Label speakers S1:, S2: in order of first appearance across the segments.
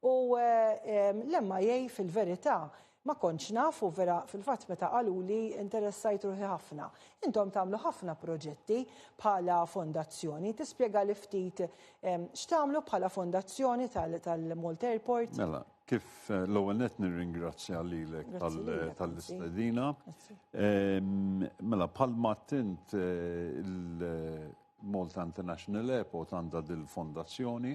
S1: U l-MIA fil-verità ma kontx naf u vera fil-fatt meta qaluli interessajt ruħi ħafna. Intom tagħmlu ħafna proġetti bħala fondazzjoni, tispjegali ftit x'tagħmlu bħala fondazzjoni tal-Malta Airport? Mela, kif
S2: l-ewwel nett nirringrazzja lilek tal-istedina. Mela, bħalma għedt int il-Malta International Airport għandha dil-fondazzjoni.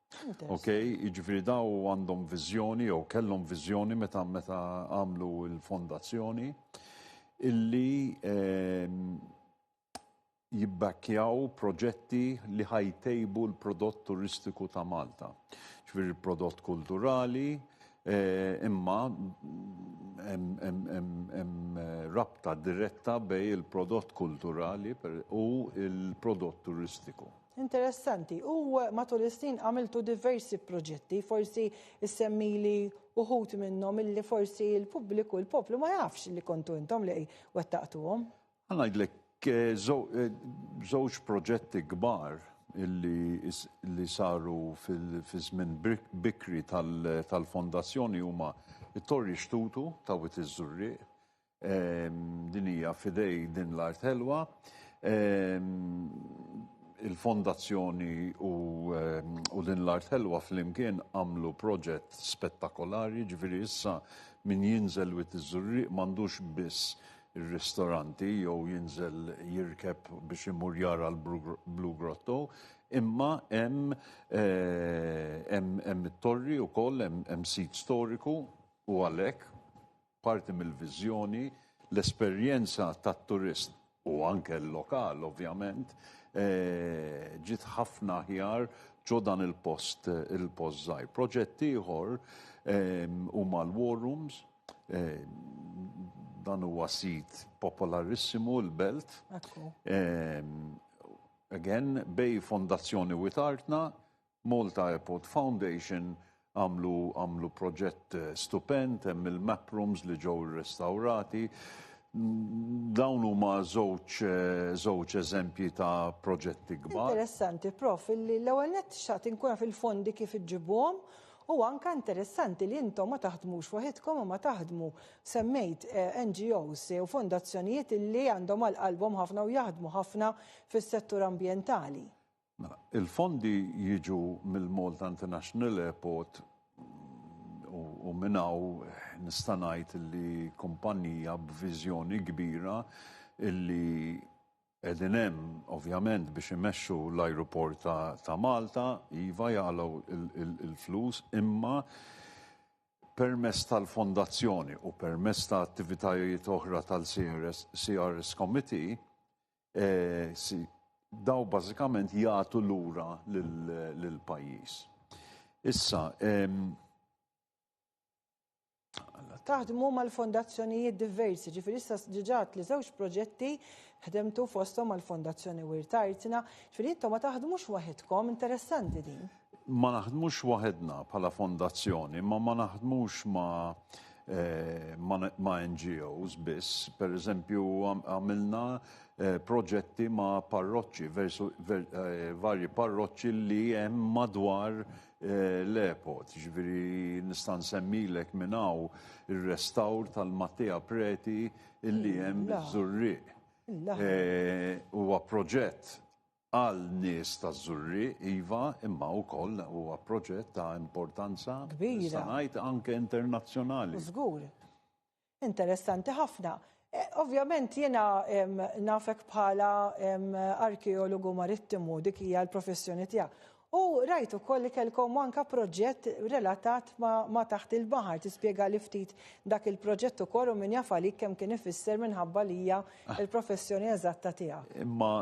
S2: Okej, jiġifieri daw għandhom viżjoni jew kellhom viżjoni meta meta għamlu l-fondazzjoni illi ehm, jibbakkjaw proġetti li ħajtejbu l-prodott turistiku ta' Malta. Ġifieri l-prodott kulturali, eh, imma hemm rabta diretta bej il-prodott kulturali u il-prodott turistiku. Interessanti.
S1: U matul is-snin għamiltu diversi proġetti, forsi issemmili uħud minnhom illi forsi l-pubbliku, l-poplu ma jafx li kontu intom li wettaqtuhom. Ngħidlek
S2: żewġ proġetti kbar li saru fiż-żmien bikri tal-Fondazzjoni huma t-Torri Xtutu ta' Wied iż-Żurrieq Din hija f'idej din l-art ħelwa. Il-fondazzjoni u, u din l-art ħelwa flimkien għamlu proġett spettakolari, ġifieri issa min jinżel wit iż-Żurrieq m'għandux biss ir-ristoranti jew jinżel jirkeb biex imur jara l-Blue Grotto, imma hemm hemm hemm it-torri wkoll, hemm hemm sit storiku u għalhekk Parti mill-viżjoni, l-esperjenza tat-turist u anke l-lokal ovvjament ġiet ħafna aħjar ġo dan il-post il-post żgħir. Proġett ieħor huma l-war rooms, dan huwa sit popolarissimu l-belt. Again, bej fondazzjoni u itartna, Malta Airport Foundation għamlu għamlu proġett stupend, hemm il-map rooms li ġew irrestawrati. Dawn huma żewġ żewġ eżempji ta' proġetti kbar. Interessanti, Prof,
S1: illi l-ewwel nett xtaqt inkun naf il-fondi kif iġġibuhom u anke interessanti li intom ma taħdmux waħidkom imma taħdmu, semmejt NGOs u fondazzjonijiet illi għandhom għal qalbhom ħafna u jaħdmu ħafna fis-settur ambjentali. Mela, il-fondi
S2: jiġu mill-Malta International Airport u minn hawn nista' ngħid li kumpanija b'viżjoni kbira li qegħdin hemm ovvjament biex imexxu l-ajruport ta' Malta, iva jagħlgħu l-flus imma permezz tal-fondazzjoni u permezz ta' attivitajiet oħra tal-CRS Committee daw bażikament jagħtu lura lill-pajjiż. Issa,
S1: Taħdmu mal-fondazzjonijiet diversi, ġifieri issa ġiġat li żewġ proġetti ħdemtu fosthom mal-Fondazzjoni Wirtartina, ġifieri intom ma taħdmux waħedkom, interessanti din. Ma naħdmux
S2: waħedna bħala fondazzjoni, imma ma naħdmux ma' Eh, ma' NGOs biss. Per eżempju, għamilna eh, proġetti ma' parroċċi, eh, varji parroċċi li hemm madwar l-epot. Ġviri nistan semmilek minnaw il-restawr tal-Mattia Preti illi hemm zurri. Huwa proġett Għal nies taż-Żurrieq, iva, imma wkoll huwa proġett ta' importanza, nista' ngħid, anke internazzjonali. Żgur.
S1: Interessanti ħafna. Ovvjament jiena nafek bħala arkeologu marittimu, dik hija l-professjoni tiegħek. U rajt ukoll li kellkom anke proġett relatat ma' taħt il-baħar, tispjegali ftit dak il-proġett ukoll u min jaf għalik kemm kien ifisser minħabba li hija l-professjoni eżatta tiegħek. Imma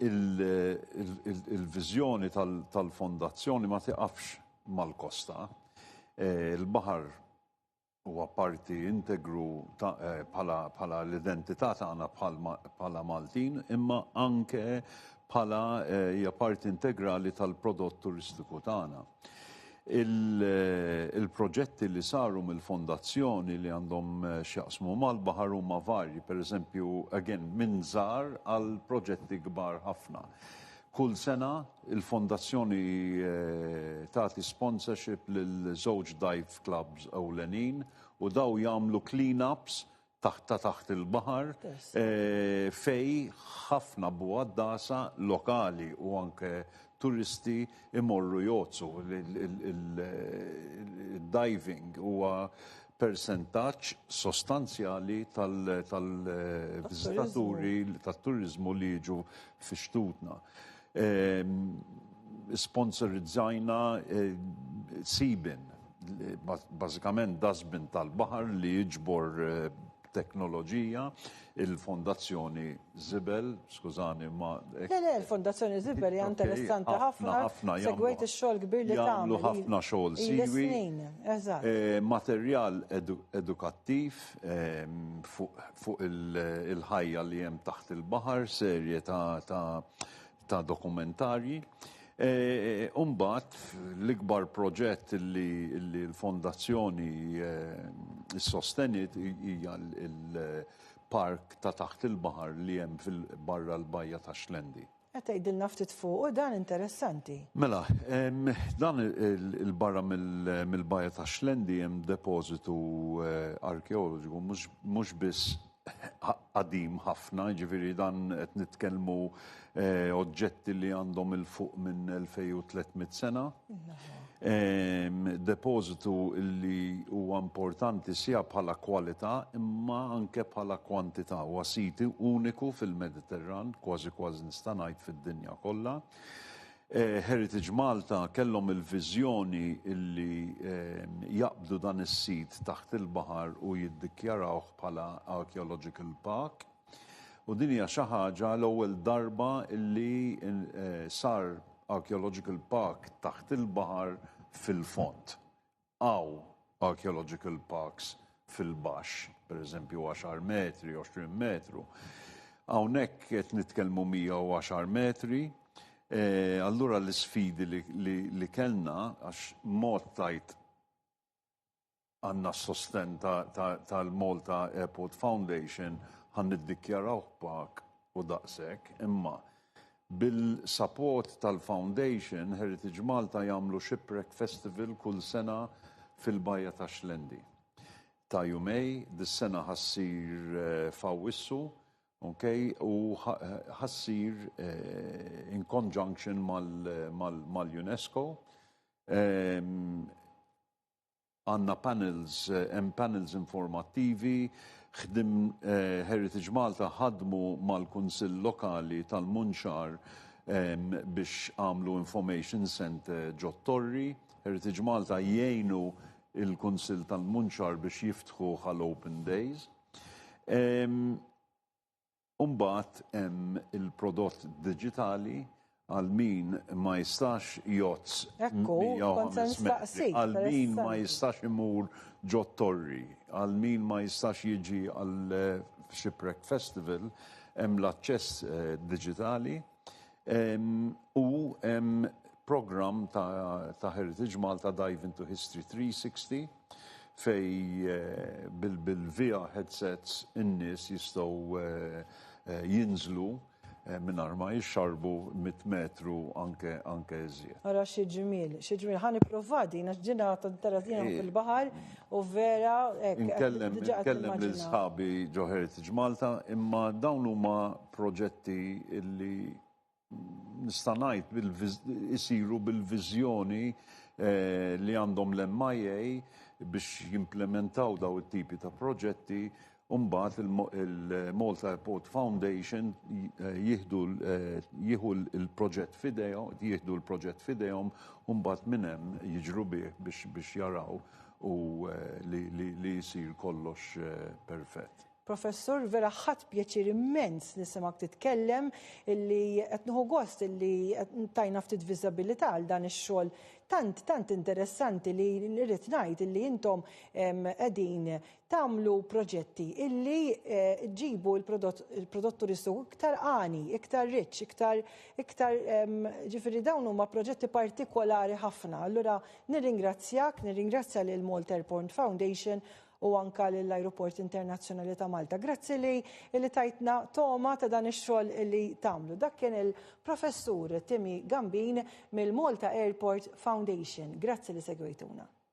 S2: Il-viżjoni tal-Fondazzjoni ma tiqafx mal-kosta. Il-baħar huwa parti integru bħala l-identità tagħna bħala Maltin, imma anke bħala hija parti integrali tal-prodott turistiku tagħna. Il-proġetti li saru mill-Fondazzjoni li għandhom x'jaqsmu mal-baħar huma varji, pereżempju, again, minn żgħar għal proġetti kbar ħafna. Kull sena, il-Fondazzjoni tagħti sponsorship lil żewġ dive clubs ewlenin u dawn jagħmlu clean-ups taħt ta' taħt il-baħar fejn ħafna bugħaddasa lokali u anke turisti jmorru jgħotsu. Id-diving huwa persentaġġ sostanzjali tal-viżitaturi tat-turiżmu li jiġu fi xtutna. Isponsorizzajna Seabin, bażikament dustbin tal-baħar li jiġbor teknoloġija, il-Fondazzjoni Żibel, skużani ma. Le, le, il-Fondazzjoni
S1: Żibel hija interessanti ħafna, segwejt ix-xogħol kbir li tagħmel. Jagħmlu ħafna xogħol
S2: siwi. Ilha snin, eżatt. Materjal edukattiv fuq il-ħajja li hemm taħt il-baħar, serje ta' ta' dokumentarji. Umbat, l-ikbar proġett li l-fondazzjoni s-sostenit hija l-park ta' taħt il-baħar li hemm fil-barra l-bajja ta' Xlendi. Qed tgħidilna ftit
S1: fuqu dan interessanti. Mela,
S2: dan il-barra mill-bajja ta' Xlendi hemm depożitu arkeoloġiku mhux biss qadim ħafna, jiġifieri dan qed nitkellmu eh, oġġetti li għandhom il fuq minn 2300 sena. Ehm, depożitu li huwa importanti sija bħala kwalità imma anke bħala kwantità huwa siti uniku fil-Mediterran, kważi kważi nista' ngħid fid-dinja kollha. Heritage Malta kellhom il-viżjoni li jaqbdu dan is-sit taħt il-baħar u jiddikjarawh bħala Archaeological Park. U din hija xi ħaġa l-ewwel darba li sar Archaeological Park taħt il-baħar fil-fond. Hawn archaeological parks fil-baxx, pereżempju għaxar metri, għoxrin metru. Hawnhekk qed nitkellmu 110 metri. Allura l-isfidi li kellna għax mod tajt għandna s-sostenn tal-Malta Airport Foundation ħa niddikjarawh park u daqshekk, imma Bil-support tal-Foundation, Heritage Malta jagħmlu Shipwreck Festival kull sena fil-Bajja ta' Xlendi. Ta' jumej, dis-sena ħa ssir f'Awwissu, ok, u ħa ssir in conjunction mal-UNESCO. Għandna panels, hemm panels informattivi, ħdim, Heritage Malta ħadmu mal-Kunsill Lokali tal-Munxar biex għamlu information centre ġot-Torri. Heritage Malta jgħinu l-Kunsill tal-Munxar biex jiftħuh għal open days. U mbagħad hemm il-prodott diġitali għal min ma jistax jozz Ekku, kont se nistaqsik. Għal min ma jistax imur ġot torri, għal min ma jistax jiġi għal eh, Shipwreck Festival, hemm l-aċċess eh, diġitali u programm ta' Heritage Malta Dive into History 360 fejn bil-VR headsets in-nies jistgħu jinżlu mingħajr ma jixxarrbu mitt metru anke anke iżjed. Ara xi ġmiel,
S1: xi ġmiel. Ħa nipprovha din għax din għad tinteress jiena fil-baħar u vera hekk. Inkellem
S2: inkellem lil sħabi ġo Heritage Malta imma dawn huma proġetti illi nista' ngħid isiru bil-viżjoni eh, li għandhom l-MIA biex jimplementaw daw it-tipi ta' proġetti Umbat il-Malta Airport Foundation eh, jihdu eh, jihu l-proġett fidejhom, jihdu l-proġett fidejhom, umbat minnem jiġru bih biex jaraw u li jisir kollox perfett. Professur, vera
S1: ħadt pjaċir immens nisimgħek titkellem illi qed nieħu gost illi tajna ftit viżabilità għal dan ix-xogħol tant tant interessanti li rrid ngħid illi intom qegħdin tagħmlu proġetti illi eh, ġibu l-prodott turistu iktar għani, iktar rich, iktar iktar ġifieri dawn huma proġetti partikolari ħafna. Allura nirringrazzjak, nirringrazzja lil Malta Airport Foundation u anke lill-Ajruport Internazzjonali ta' Malta. Grazzi li li tajtna togħma ta' dan ix-xogħol li tagħmlu. Dak kien il-Professur Timmy Gambin mill-Malta Airport Foundation. Grazzi li segwejtuna.